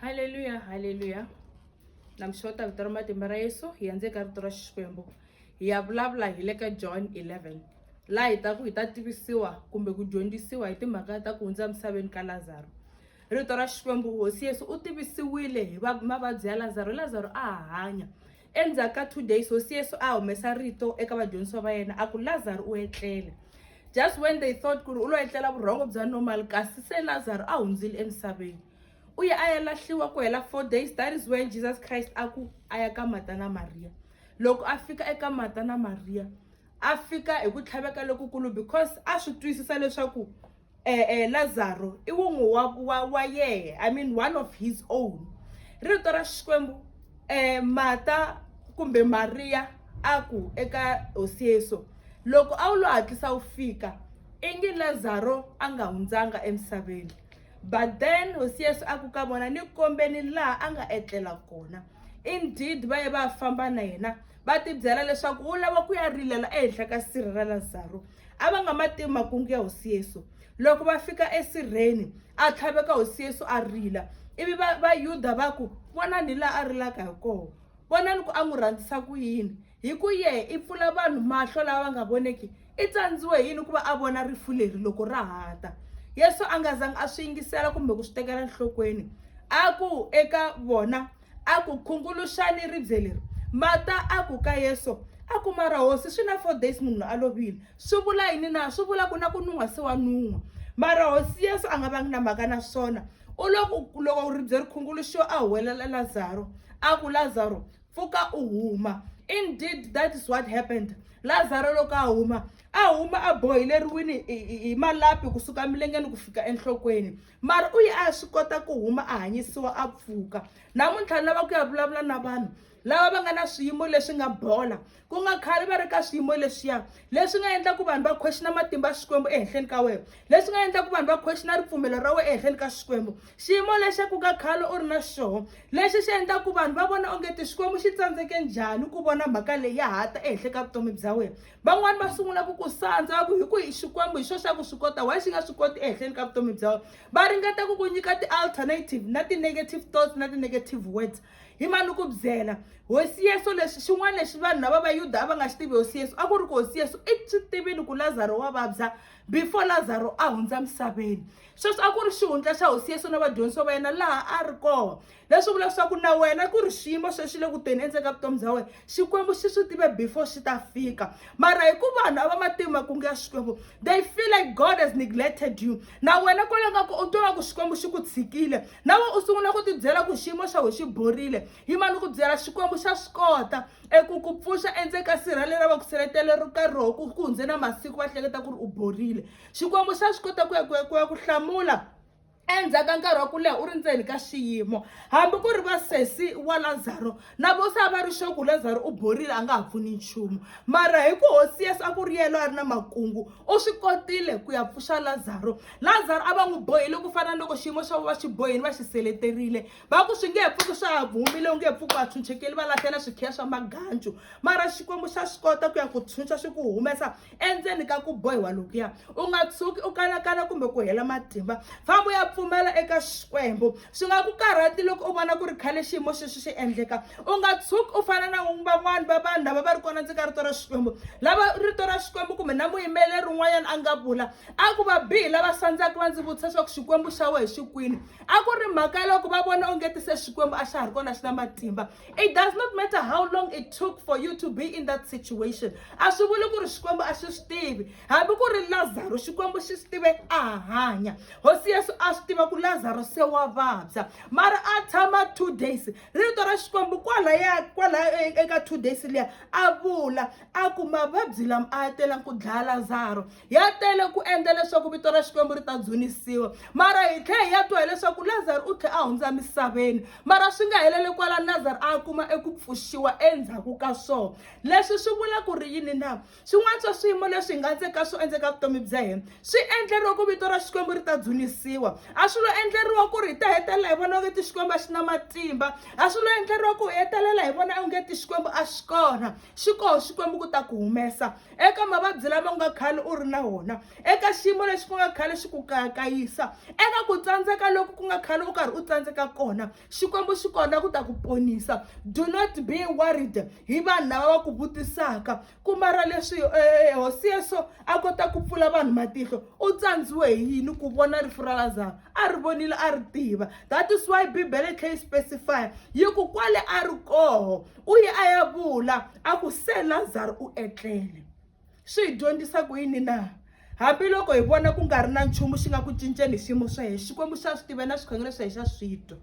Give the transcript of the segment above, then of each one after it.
haleluya haleluya namxota vito ra matimba ra yesu hi ya ndzeni ka rito ra xikwembu hi ya vulavula hi le ka john 11 laha hi ta ku hi ta tivisiwa kumbe ku dyondzisiwa hi timhaka ta ku hundza emisaveni ka lazaro rito ra xikwembu hosi yesu u tivisiwile hi mavabyi ya lazaro lazaro a ha hanya Endzhaku ka two days, Hosi Yesu a humesa rito eka vadyondzisiwa va yena a ku, Lazaro u etlele. Just when they thought ku ri u lo etlela vurhongo bya normal, kasi se Lazaro a hundzile emisaveni. U ye a ya lahliwa ku hela four days, that is when Jesus Christ a ku a ya ka Marta na Mariya. Loko a fika eka Marta na Mariya, a fika hi ku tlhaveka lokukulu because a swi twisisa leswaku, eh, eh, lazaro i wun'we wa, wa, wa yehe i mean one of his own rito ra xikwembu eh, mata kumbe mariya a ku eka hosi yesu loko a wu lo hatlisa wu fika i nge lazaro a nga hundzanga emisaveni but then hosi yesu a ku ka vona ni kombeni laha a nga etlela kona indeed va ye va famba na yena va tibyela leswaku u lava ku ya rilela ehenhla ka sirhi ra lazaro a va nga ma tivi makungu ya hosi yesu loko va fika esirheni a tlhaveka hosi yesu a rila ivi vayuda va ku vonani hi laha a rilaka hi kona vonani ku a n'wi rhandzisa ku yini hi ku yehe i pfula vanhu mahlo lava va nga voneki i tsandziwe hi yini ku va a vona rifu leri loko ra hata yesu a nga zangi a swi yingisela kumbe ku swi tekela enhlokweni a ku eka vona a ku khunguluxani ribye leri mata a ku ka yeso a ku mara hosi swi na four days munhu a lovile swi vula yini na swi vula ku na ku nun'wa se wa nun'wa mara hosi yeso a nga vangi na mhaka na swona u loko loko ribye ri khunguluxiwa a huwelela lazaro a ku lazaro pfuka u huma indeed that is what happened lazaro loko a huma a huma a bohileriwini hi malapi kusuka milengeni ku fika enhlokweni mara u ye a ya swi kota ku huma a hanyisiwa a pfuka namuntlha ni lava ku ya vulavula na vanhu lava va nga na swiyimo leswi nga bola ku nga khale va ri ka swiyimo leswiya leswi nga endla ku vanhu va khwexina matimba ya xikwembu ehenhleni ka wena leswi nga endla ku vanhu va khwexina ripfumelo ra wena ehenhleni ka xikwembu xiyimo lexi ku nga khale u ri na xoho lexi xi endla ku vanhu va vona ongeti xikwembu xi tsandzeke njhani ku vona mhaka leyi ya ha ta ehenhla ka vutomi bya wena van'wani va sungula ku ku sandza va ku hi ku hi xikwembu hi xo xa ku swi kota why xi nga swi koti ehenhleni ka vutomi bya wena va ringeta ku ku nyika ti-alternative na ti-negative thoughts na ti-negative words hi mani ku byela hosi yesu leswi xin'wana lexi vanhu lava va yuda a va nga xi tivi hosi yesu a ku ri ku hosi yesu i swi tivile ku lazaro wa vabya before lazaro a hundza misaveni sweswi a ku ri xihundla xa hosi yesu na vadyondzisiwa va yena laha a ri kona leswi vula leswaku na wena ku ri xiyimo sweswi le ku teni endzeni ka vutomi bya wena xikwembu xi swi tive before xi ta fika mara hi ku vanhu a va matimu makungu ya xikwembu they feel like god has neglected you na wena kwale ka ku u twa ku xikwembu xi ku tshikile na wena u sungula ku tibyela ku xiyimo xa wena xi borile yi ma ni ku byela xikwembu xa swi kota eku ku pfuxa endzeni ka sirha leri va ku seletele ri ka roho ku ku hundze na masiku va hleketa ku ri u borile xikwembu xa swi kota ku ya ku ya ku ya ku hlamula endzhaku ka nkarhi wa ku leha u ri ndzeni ka xiyimo hambi ku ri va sesi wa lazaro na vo se a va ri xoku lazaro u borile a nga ha pfuni nchumu mara hi ku hosi yesu a ku ri yelo a ri na makungu u swi kotile ku ya pfuxa lazaro lazaro a va n'wi bohile ku fana na loko xiyimo xa vo va xi bohile va xi seleterile va ku swi nge he pfuki swa ha vumile u nge he pfuki va tshunxekeli va lahlela swikhiya swa magancu mara xikwembu xa swi kota ku ya ku tshunxa xi ku humesa endzeni ka ku bohiwa lokuya u nga tshuki u kanakana kumbe ku hela matimba famba u ya pfumela eka xikwembu swi nga ku karhati loko u vona ku ri khale xiyimo xexi xi endleka u nga tshuki u fana na van'wani va vanhu lava va ri kona ndzi ka rito ra xikwembu lava rito ra xikwembu kumbe na muyimbeleri un'wanyana a nga vula a ku va bihi lava sandzaka va ndzi vutisa swa ku xikwembu xa we hi xikwini a ku ri mhaka loko va vona onge ti se xikwembu a xa ha ri kona xi na matimba it does not matter how long it took for you to be in that situation a swi vuli ku ri xikwembu a xi swi tivi hambi ku ri lazaro xikwembu xi swi tive a hanya hosi yesu a swi tiva ku lazaro se wa vabya mara a tshama two days rito ra xikwembu kwalaya kwalaya e, eka two days liya a vula a ku mavabyi lama a ya telangi ku dlaya lazaro ya tele ku endla leswaku vito ra xikwembu ri ta dzunisiwa mara hi tlhe hi ya twa hileswaku lazaro u tlhe a hundza misaveni mara swi nga helele kwala lazaro a kuma eku pfuxiwa endzhaku ka swona leswi swi vula ku ri yini na swin'wana swa swiyimo leswi hi nga ndzeka swo endzeka vutomi bya hina swi endleriwa ku vito ra xikwembu ri ta dzunisiwa a swi lo endleriwa ku ri hi ta hetelela hi vona onge ti xikwembu a xi na matimba a swi lo endleriwa ku hi hetelela hi vona onge ti xikwembu a xi kona xi koho xikwembu ku ta ku humesa eka mavabyi lama nga khale u ri na wona eka xiyimo lexi ku nga khale xi ku kayakayisa eka ku tsandzeka loku ku nga khale u karhi u tsandzeka kona xikwembu xi kona ku ta ku ponisa do not be worried hi vanhu lava va ku vutisaka kumara leswi eh, eh, eh, hosi yeso a kota ku pfula vanhu matihlo u tsandziwe hi yini ku vona rifu ra lazaro a ri vonile a ri tiva that is why bibele khe yi specify yi ku kwale a ri koho u ye a ya vula a ku se lazaro u etlele swi hi dyondzisa ku yini na hambiloko hi vona ku nga ri na nchumu xi nga ku cinceni hi xiyimo swa hina xikwembu xa swi tiva na swikhongelo swa hina xa swi twa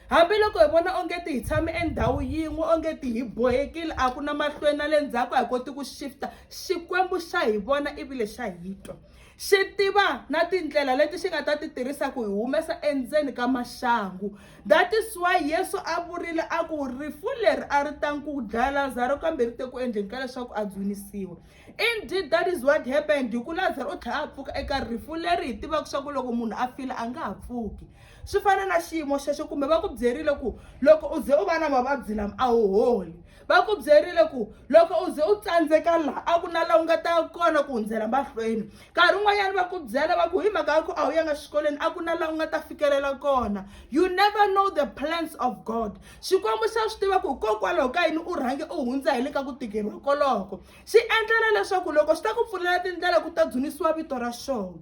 hambiloko hi vona onge ti hi tshame endhawu yin'we onge ti hi bohekile a ku na mahlweni na le ndzhaku a hi koti ku shifta xikwembu xa hi vona ivile xa hi twa xi tiva na tindlela leti xi nga ta ti tirhisa ku hi humesa endzeni ka maxangu that is why yesu a vurile a ku rifu leri a ri ta ku dlaya lazaro kambe ri te ku endleni ka leswaku a dzunisiwa indeed that is what happened hi ku lazaro u tlhela a pfuka eka rifu leri hi tivaka swa ku loko munhu a file a nga ha pfuki swi fana na xiyimo xexo kumbe va ku byerile ku loko u ze u va na mavabyi lama a wu holi va ku byerile ku loko u ze u tsandzeka laha a ku na laha u nga ta kona ku hundzela mahlweni nkarhi un'wanyana va ku byela va ku hi mhaka ya ku a wu yanga xikolweni a ku na laha u nga ta fikelela kona you never know the plans of god xikwembu xa swi tiva ku hikokwalaho ka yini u rhange u hundza hi le ka ku tikeriwa koloko xi endlela leswaku loko xi ta ku pfulela tindlela ku ta dzunisiwa vito ra xona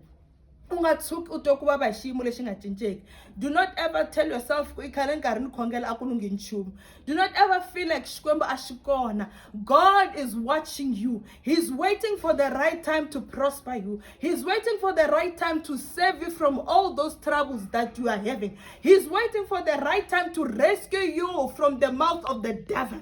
u nga tshuki u twe ku vava hi xiyimo lexi nga cinceki do not ever tell yourself ku i khale ni karhi ni khongela a ku lunghi nchumu do not ever feel like xikwembu a xi kona god is watching you he's waiting for the right time to prosper you he's waiting for the right time to save you from all those troubles that you are having he's waiting for the right time to rescue you from the mouth of the devil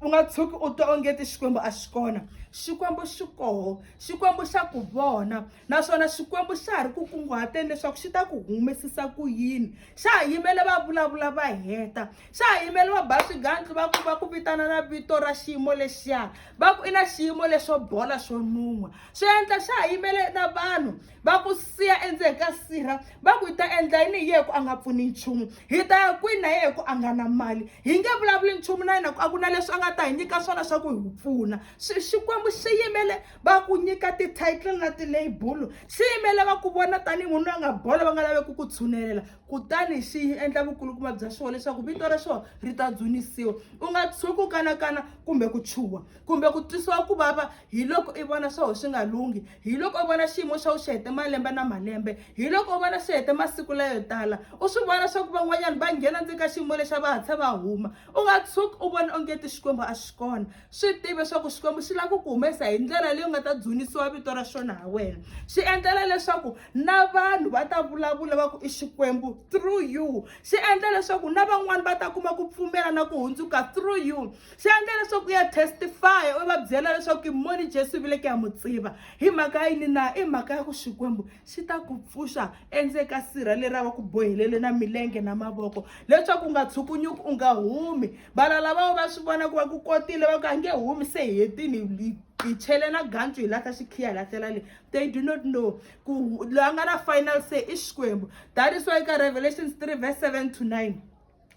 u nga tshuki u twa ongeti xikwembu a xi kona xikwembu xi koho xikwembu xa ku vona naswona Xikwembu xa ha ri ku kunguhateni leswaku xi ta ku humesisa ku yini xa ha yimele va vulavula va heta xa ha yimele va ba swigandlu va ku va ku vitana na vito ra xiyimo lexiya va ku i na xiyimo lexo bola xo nun'wa swi endla xa ha yimele na vanhu va ku siya endzeni ka sirha va ku hi ta endla yini hi ye ku a nga pfuni nchumu hi ta ya kwini na ye ku a nga na mali hi nge vulavuli nchumu na yena ku a ku na leswi a nga ta hi nyika swona swa ku hi pfuna Xi- xikwembu xi yimele va ku nyika ti-title na ti-label swi yimele va ku vona tanihi munhu loyi a nga bola va nga laveki ku tshunelela kutani xi endla vukulukumba bya xona leswaku vito ra xona ri ta dzunisiwa u nga tshuki ku kanakana kumbe ku chuha kumbe ku twisiwa ku vava hi loko i vona swa wena swi nga lunghi hi loko u vona xiyimo xa wena xi hete malembe na malembe hi loko u vona xi hete masiku layo tala u swi vona swa ku van'wanyana va nghena ndzeni ka xiyimo lexa va hatlha va huma u nga tshuki u vona onge ti xikwembu a xi kona swi tiva leswaku xikwembu xi lava ku ku humesa hi ndlela leyi nga ta dzunisiwa vito ra xona ha wena xi endlela leswaku na vanhu va ta vulavula va ku i xikwembu through you xi endla leswaku na van'wani va ta kuma ku pfumela na ku hundzuka through you xi endla leswaku ya testify u va byela leswaku moni jesu vile ku ya mu tiva hi mhaka yini na i mhaka ya ku xikwembu xi ta ku pfuxa endzeni ka sirha leri a va ku bohelele na milenge na mavoko leswaku u nga tshukunyuki u nga humi vana lavawo va swi vona ku va ku kotile va ku a nge humi se hi hetini hi chele na gantsu hi lahla xikhiya hi lahlela le they do not know ku loyi a nga na final say i xikwembu that is why ka revelations 3 verse 7 to 9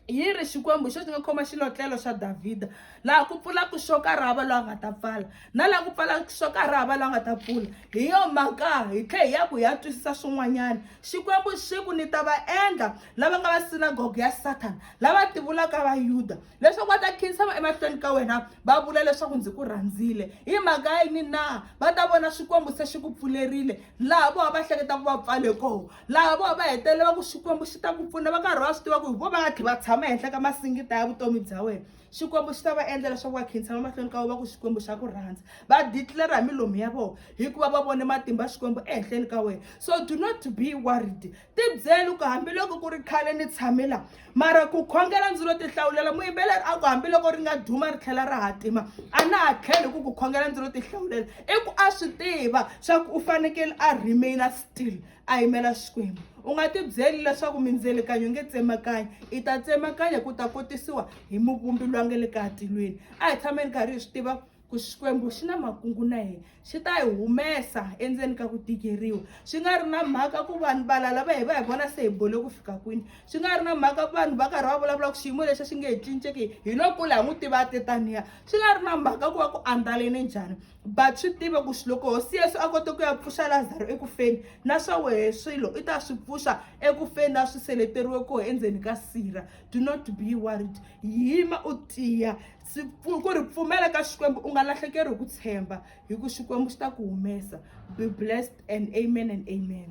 yi ri xikwembu xo xi nga khoma xilotlelo xa davhida laha ku pfulaka xo ka ri hava loyi a nga ta pfala na laha ku pfalaka xo ka ri hava loyi a nga ta pfula hi yo mhaka hi tlhe hi ya ku hi ya twisisa swin'wanyana xikwembu xi ku ni ta va endla lava nga va sinagoga ya sathana lava ti vulaka vayuda leswaku va ta khinsama emahlweni ka wena va vula leswaku ndzi ku rhandzile hi mhaka yini na va ta vona xikwembu se xi ku pfulerile laha vona va hleketaka va pfale kona laha vona va hetelela va ku xikwembu xi ta ku pfuna va karhi va swi tiva ku hi vo va tlhe va tshama ehenhla ka masingita ya vutomi bya wena xikwembu xi ta va endla leswaku va khinsa va mahlweni ka vo va ku xikwembu xa ku rhandza va declara hi milomu ya vona hikuva va vone matimba xikwembu ehenhleni ka wena so do not be worried tibyeli ku hambiloko ku ri khale ni tshamela mara ku khongela ndzi lo ti hlawulela muyimbeleri a ku hambiloko ri nga duma ri tlhela ra hatima a na ha tlheli ku ku khongela ndzi lo ti hlawulela i ku a swi tiva swa ku u fanekele a remaina still a yimela xikwembu u nga ti byeli leswaku mindzelekanyo nge tsemakanya i ta tsemakanya ku ta kotisiwa hi muvumbi lwa nge le ka tilweni a hi tshameni karhi hi swi tiva ku xikwembu xi na makungu na hina xi ta hi humesa endzeni ka ku tikeriwa swi nga ri na mhaka ku vanhu valala va hi va hi vona se hi bole ku fika kwini swi nga ri na mhaka ku vanhu va karhi va vulavula ku xiyimo lexi xi nge hi cinceki hi lo kula hi n'wi tiva tetaniya swi nga ri na mhaka ku va ku andlaleni njhani but swi tive ku loko hosi yesu a kote ku ya pfuxa lazaro ekufeni na swa wehe swilo i ta swi pfuxa ekufeni na swi seleteriwe koho endzeni ka sira do not be worried yima u tiya ku ri pfumela ka xikwembu u nga lahlekeri hi ku tshemba hi ku xikwembu xi ta ku humesa be blessed and amen and amen